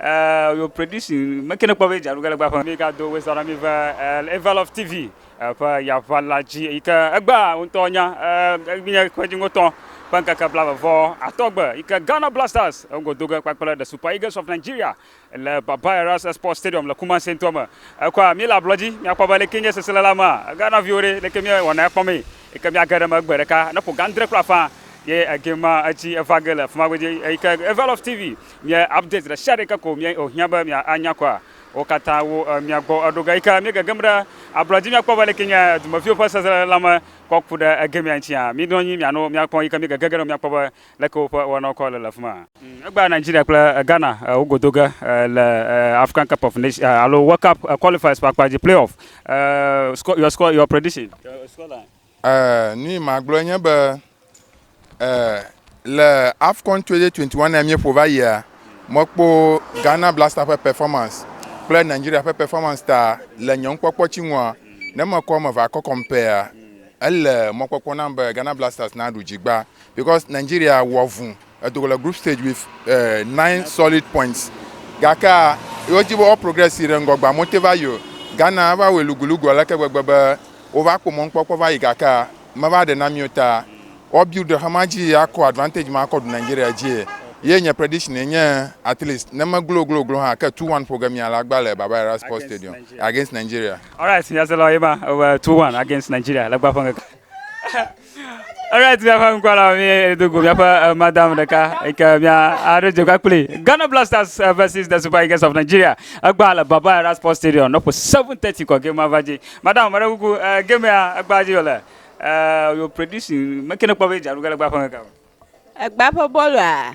Uh, your prediction, make ne kpɔ be dzaɖuge le gbaƒe. Mi gado wo zara mi ve Eval of TV ƒe yava la dzi yi ke egbea ŋutɔ nya nye ƒe dziŋotɔ ƒe ŋkeke blave vɔ atɔ gbe yi ke Ghana Blasters ŋgo do ge kpakple The Super Eagles of Nigeria le Baba Eras Sports Stadium le Kumasi ŋutɔ me. Ekɔa mi le ablɔ dzi mi akpɔ be leke nye sesele la mea Ghana viwo ɖe leke mi wɔna ekpɔ mee yi ke mi age ɖe me gbe ɖeka ne ƒo gandre kura faa ye egema etsi eva ge le fima godzi yi ke Eval of TV. Mia updates ɖesiaɖe ke ko mia ohiã be mia anya kɔa? Wo katã wo mia gbɔ eɖo ga yike mia gegem ɖe ablɔdzi mia kpɔ be leke nye dumeviwo ƒe sesele la me kɔ ku ɖe egemea ŋtia? Mi nɔ anyi mia no mia kpɔ yike mia gege ge ɖe mia kpɔ be leke woƒe wɔnawo kɔ le le afima. Egbea Nigeria kple Ghana wo godo ge le African Cup of Nation alo World Cup qualifiers ƒe akpa dzi, playoff. Your score, your prediction? Score line. Ɛɛ, nuyi magblɔe nye be ɛɛ, le Afcon 2021 míeƒo va yia, mekpɔ Ghana Blaster ƒe performance kple Nigeria ƒe performance ta le nye nukpɔkpɔ tsi ŋua, ne mekɔ eme va kɔ compair-a, ele mɔkpɔkpɔ nam be Ghana Blasters naɖu dzigba because Nigeria wɔ vu. Edo go le group stage with uh, nine solid points. Gakea, wodzi be woa progress yi ɖe ŋgɔ gbea, mote va yi o. Ghana va wɔe lugulugu aleke gbegbe be wova kpɔ mɔnukpɔkpɔ va yi gakea, meva ɖe na mi o ta woa build xema dzi akɔ advantage ma akɔ ɖu Nigeria dzie. Ye nye prediction ye nye at least ne me glo glo glo hã ke two one ƒo ge mia le agba le Baba Era Sports Stadium against Nigeria. Alright, nyaselawo ye ma, two one against Nigeria le agba ƒe ŋkeke. Alright, míaƒe ŋkɔla míedo go míaƒe eh, madam ɖeka yi ke mía aɖo dze kple kpli Ghana Blasters eh, versus the Super Eagles of Nigeria. Egbea le Baba Era Sports Stadium nɔƒe 7:30 kɔ game ava dzi. Madam, meɖe kuku eh, game ya egbea dzi wòle. Eh, your prediction, meke ne kpɔ be dzaɖu ge le egbea ƒe ŋkeke me. Egba ƒe bɔlua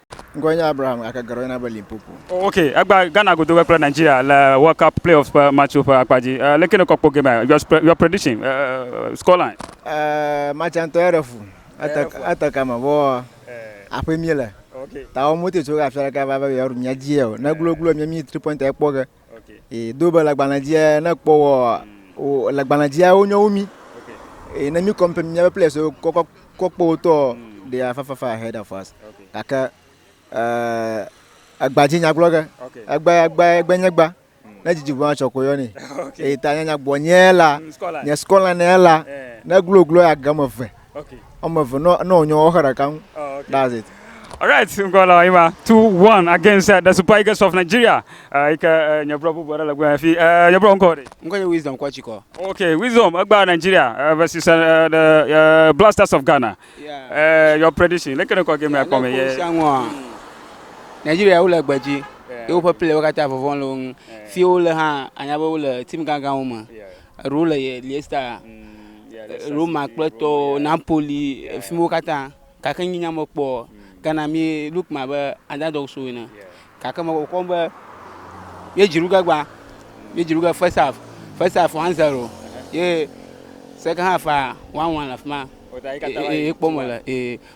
Ŋkɔe nye Abraham gake geɖewo yɔna be Limpopo. Oh, ok, egba Ghana godo kple Nigeria le World Cup playoffs ƒe match ƒe akpa dzi. Uh, leke nèkpɔ kpɔ game? Your, your prediction, uh, scoreline? Uh, eh, match ŋutɔ eɖe fu. Ete, ete kame, vɔ aƒe mi le. Okay. Ta wo mote tso afia ɖeka va be yewoɖu mía dzie o. Ne gloglo mía mi three pointer ekpɔ ge. e do be lagbalẽ dzia ne kpɔ wɔ o lagbalẽ dzia wonye wo mi e ne mi kɔm pe miaƒe players wo kɔkɔ kɔkpɔ wotɔ de afafafa ahead of us gake ɛɛ agbadzi nyagblɔ ge egbe egbe egbe nye gba ne dzidzi ʋua tsɔ ko yɔ ne eye ta nyanya gbɔ nye la nye skɔla ne la ne gloglo agame ve Okay. Wɔme eve no no onyo wɔxe ɖeka ŋu. Oh, okay. That's it. All right, ŋgɔ la ima 2-1 against uh, the Super Eagles of Nigeria. Uh, ike uh, nye bro bubu aɖe le gbɔ fi. Uh, nye bro ŋkɔ ɖe. Ŋkɔ nye Wisdom Kwachikɔ. Okay, Wisdom egba Nigeria uh, versus uh, the uh, Blasters of Ghana. Yeah. Uh, your prediction. Lekene kɔ game akɔ me ye. Nigeria wo le gbedzi. Yewo ƒe player wo katã vɔvɔn le wo ŋu. Fi wo le hã anya be wo le team gangan wo me. Yeah. Eɖewo le Leicester, Roma kple tɔwo, Napoli, fi miwo katã. Gake nye nya mekpɔ o. Ghana mi look me abe underdogs wo ene. Gake me kpɔkpɔ be ye dzi ɖuge gbã. Ye dzi ɖuge first half. First half one zero ye second half one one le afi ma. Ye kpɔ me le.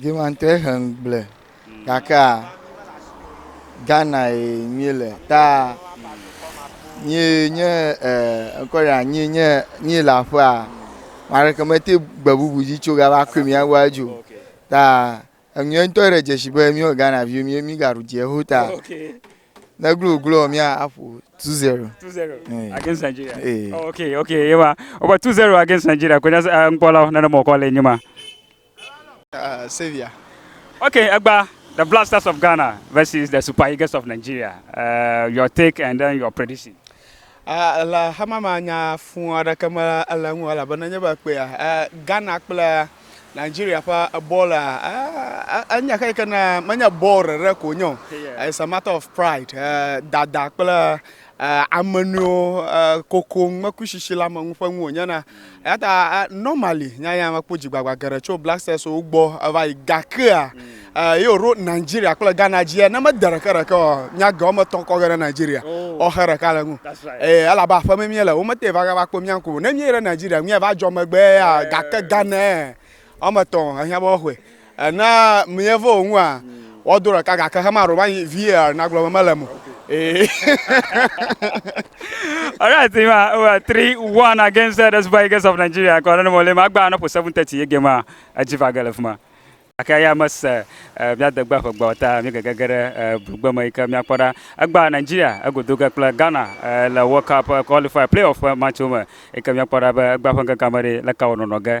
Dzimantɔe he ŋugble gake a Ghana ye nyuie le ta nyie nye ŋkɔ ya nyie nye nyie le aƒe a maɖeke mete gbe bubu dzi tso gava koe mi awa dzo ta enyuie ŋutɔ ɖe dzesi be mi Ghana vi mi mi gaɖu dze ho ta ne glo glo mi aƒo two zero two zero eh. against Nigeria eh. oh, okay okay yewa oba two zero against Nigeria kwenye eh, nkpɔla nana mɔkɔ le nyuma Uh, Savior. Okay, Egba, the Blasters of Ghana versus the Super Eagles of Nigeria. Uh, your take and then your prediction. Uh, le hama ma nya fún aɖeke me ele ŋu elabena nye be kpea uh, Ghana kple Nigeria ƒe bɔl uh, enye xe ke na menye bɔl rere ko nye o. It's a matter of pride, uh, dada kple Ame nɔewo kokoŋ mekui shishi la me ŋu ƒe ŋu wònye na. Eyata normally nya ya mekpɔ dzigbagba geɖe tso Black Stars wo gbɔ eva yi gakea ye wòɖo Nigeria kple Ghana dzia ne mede ɖeke ɖeke o nya ge wɔme etɔ̃ kɔ ge ɖe Nigeria ɔxe ɖeka le ŋu eye elabe aƒe me mie le womete va gava kpɔ mía ŋku o ne míeyi ɖe Nigeria míava dzɔ megbe ya gake Ghana Ame etɔ̃ ehiã be woaxɔe. Ne míeva wo ŋua, woado ɖeka gake xe maɖo va yi VAR nagblɔ be mele eme o. Ee. Alright, ma uh, eh, three one against uh, the Super Eagles of Nigeria. Kɔ ne mo le ma gba na po seven thirty ye game a edzi va ge le fuma. Aka ya mes uh, eh, mia de gba ƒegba ta mi gege ge ɖe uh, blugbe me yike mia kpɔ ɖa. Egba Nigeria egodo ge kple Ghana uh, le World Cup qualifier playoff match me yike mia kpɔ ɖa be egba ƒe gege me ɖe le ka wonɔnɔ ge.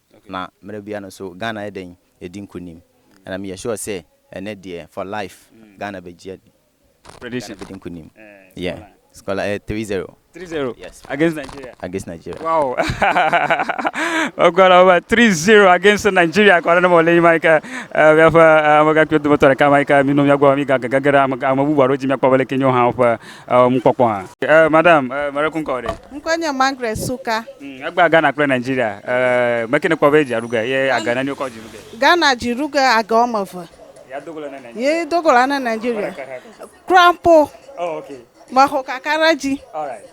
Na mele bia no so Ghana ye ɖein ye di ŋku nim and am yesure se ene deɛ for life Ghana be djia di Prediction Ghana be di ŋku nim yeah scola eh three zero 3-0 yes against Nigeria. against Nigeria. Wow. Ogɔla over 3-0 against Nigeria kɔ ɖe ne mɔ le yi ma yi ke eh, míaƒe eh, amegãkpuiwo dometɔ ɖeka ma yi ke mi nɔ mía gbɔ mi gagegege ɖe ame ame bubu aɖewo dzi míakpɔ be leke nyo hã woƒe Ewɔ nukpɔkpɔ hã. Ɛ madam, ɛ mele kunkɔ o ɖe. Ŋkɔe nye Margaret Suka. Hm, egbea Ghana kple Nigeria, ɛ meke nekpɔ be dzi aɖuge ye age neni wokɔ dzi ɖuge? Ghana dzi ɖuge age woame eve. Ya dogo le ne Nigeria. Ye dogo le ne Nigeria. Kura mpo. Oh, ok. Me xɔ kaka ɖe dzi. All right.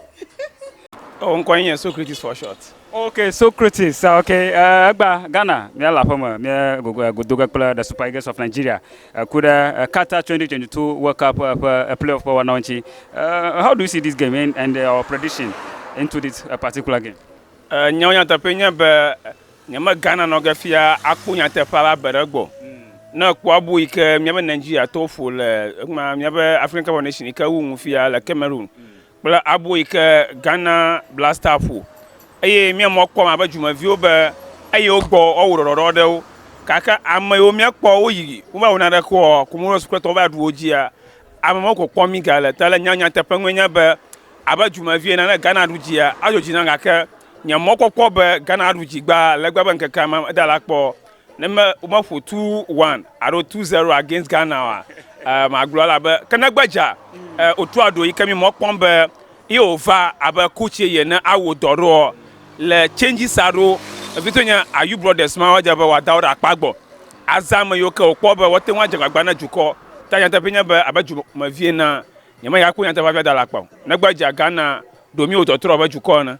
Oh, ŋkɔe nye Socrates for short. Ok, Socrates, ok, ɛ egbea Ghana, mía le aƒeme, mía gogo, godoge kple The Super Eagles of Nigeria. Eku ɖe Qatar 2022 World Cup ƒe playoff ƒe wɔnawo ŋuti. How do you see this game and your prediction into this particular game? Nyawo nyateƒee nye be nyemegana nɔ ge fia akpɔ nyateƒea ƒe abe ɖe gbɔ. Ne èkpɔ abo yi ke míaƒe Nigeriatɔwo ƒo le míaƒe African Cup of Nations yi ke wowu nu fia le Cameroon kple abo yi ke Ghana Black Star ƒo eye mía amewo kpɔm abe dumeviwo be eye wogbɔ woawɔ ɖɔɖɔɖɔ ɖe wo gake ame yiwo míekpɔ woyi wova wɔ naneke o Comoros kple tɔwo va ɖu wo dzia ame mawo ko kpɔm míga le ta le nya nyateƒe nue nye be abe dumevi ene ne Ghana ɖu dzia adzɔ dzi nam gake nye mɔkpɔkpɔ be Ghana aɖu dzi gbaa legbe be ŋkeke ma meda la kpɔ o. Ne me meƒo two one alo two zero against Ghana wa, eh, magblɔ la be ke ne gbedza eh, otu aɖo yi ke mi mɔ kpɔm be ye ova abe coach ye ne awo dɔ ɖoɔ le changes aɖo ebi to nye ayu brothers ma wadze be wada wo ɖe akpa gbɔ azã me yiwo ke wokpɔ be wote ŋu adze gbagba na dukɔ ta nyateƒe nye be abe dumevi na nyemenya kpɔ nyateƒe afi ada le akpa o ne gbedza Ghana ɖo mi wo tɔtrɔ abe dukɔ ene.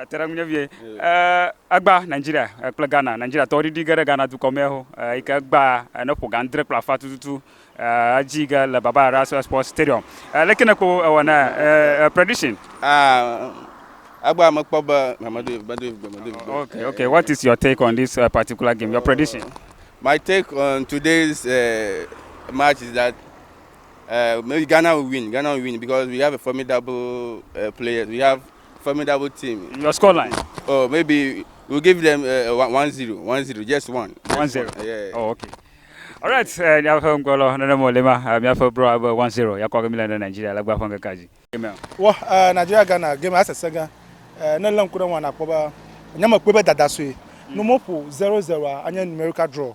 Ete ɖe ŋunye vie. Egba Nigeria kple Ghana. Nigeriatɔwo ɖiɖi ge ɖe Ghana dukɔ mea ho yi ke gba ne ƒo ga ŋdre kple afã tututu edzi ge le Baba Araso Sports Stadium. Leke ne kpo ewɔ na prediction? Egba mekpɔ be medoe medoe medoe. Okay, okay. What is your take on this uh, particular game? Your prediction? My take on today's uh, match is that uh, maybe Ghana will win. Ghana will win because we have a formidable uh, players. We have formidable team. Your score line? Oh, maybe we'll give them uh, one, one zero, one zero, just one. Just one zero. One. Yeah. Oh, okay. All right, uh, miaƒe ŋgɔlɔ nene mo le ma uh, miaƒe bro abe one zero yakɔ gemi le ne Nigeria le gba ƒe ŋkeke dzi. Wɔ uh, Nigeria Ghana game asese gã uh, ne lé ŋku ɖe ŋua nakpɔ be nyamekpɔe be dada sue. Mm. Numoƒo zero zero a anye numerical draw.